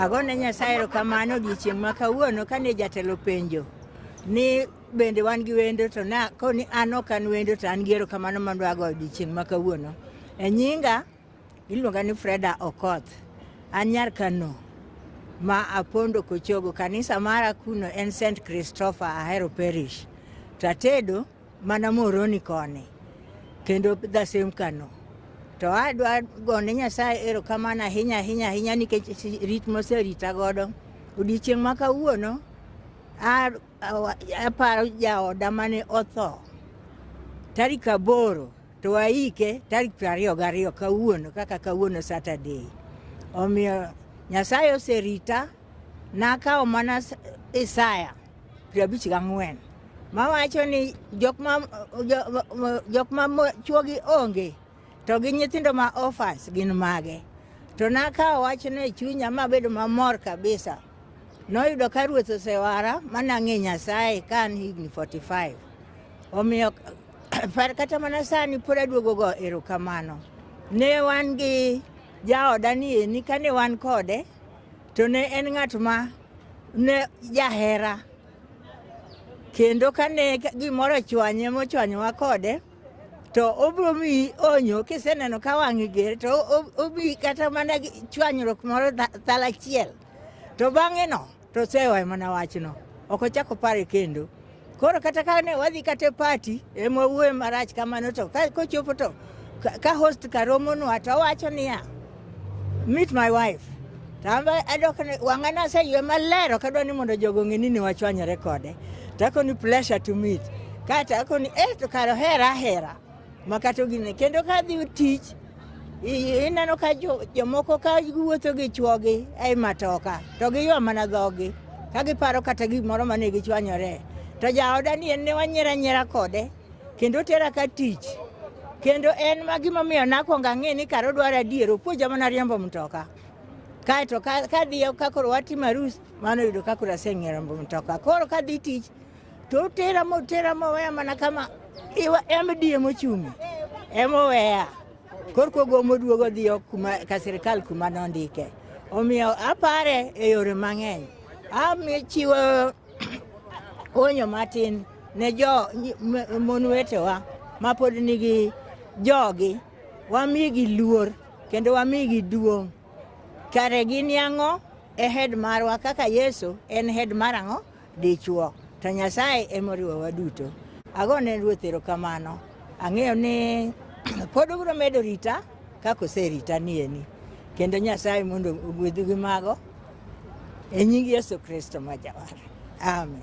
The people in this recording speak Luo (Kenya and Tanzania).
Agone Nyasaye erokamano odiechieng' ma kawuono kane jatelo penjo ni bende wan gi wendo to na koni an ok an wendo to an gi erokamano mondo ago odiechieng' ma kawuono. E nyinga iluonga ni Freda Okoth. An nyar Kano ma apondo Kochogo. Kanisa mara kuno en St. Christopher Ahero Parish. To atedo Mana Moroni koni kendo the same Kano. To adwa gone Nyasaye erokamano ahinya ahinya ahinya nikech rit moserita godo. Odiochieng' ma kawuono aparo jaoda mane otho tarik aboro to waike tarik piero ariyo gariyo kawuono kaka kawuono Saturday. Omiyo Nyasaye oserita nakawo mana Isaya piero abich gang'wen mawacho ni jok ma jo- jo- jok ma mo- chwogi onge to gi nyithindo ma orphans gin mage to nakawo wachno e chunya mabedo mamor kabisa noyudo ka ruoth osewara manang'e nyasaye ka an higni 45 omiyo par kata mana sani pod aduogo go erokamano ne wan gi jaoda ni eni kane wan kode to ne en ng'at ma ne jahera kendo kane gimoro ochwanye mochwanyowa kode to obiro miyi onyo kiseneno ka wang'i ger to obi kata mana chwanyruok moro thal achiel to bang'eno to osewayo mana wachno ok ochak opare kendo Koro kata ka ne wadhi kata e pati ema wuoyo marach kamano to ka- kochopo to ka- ka host karomonwa to owacho niya meet my wife tamba adok ni wang'a naseywe maler ok adwa ni mondo jogo ng'e ni ne wachwanyore kode to akoni pleasure to meet kaeto akoni eh to kare ohera ahera makato gine kendo ka dhi tich ineno ka jomoko ka giwuotho gi chuogi ei matoka to giywa mana dhogi ka giparo kata gimoro mane gichwanyore to jaoda ni en ne wanyiera nyiera kode kendo tera ka tich kendo en ma gimomiyo nakwongo ang'e ni kar odwaro adier opuonja mana riembo mtoka kaeto kadhi kakoro watimo arus mano yudo kakoro aseng'e riembo mtoka koro kadhi tich To tera mo tera mo weya mana kama iwa MDA mochungi. Emo weya. Korko gomo duogo dhiyo kuma ka sirkal kuma nondike. Omiyo apare e yore mang'eny. Ami chiwo onyo matin ne jo mon wetewa mapod nigi jogi wamigi luor kendo wamigi duong' kare gin yang'o e hed marwa kaka yesu en hed mar ang'o dichwo, to Nyasaye ema oriwo waduto. Ago ne Ruoth erokamano. Ang'eyo ni pod obiro medo rita kaka oserita nieni. Kendo Nyasaye mondo ogwedhu gi mago e nying Yesu Kristo ma Jawar. Amen.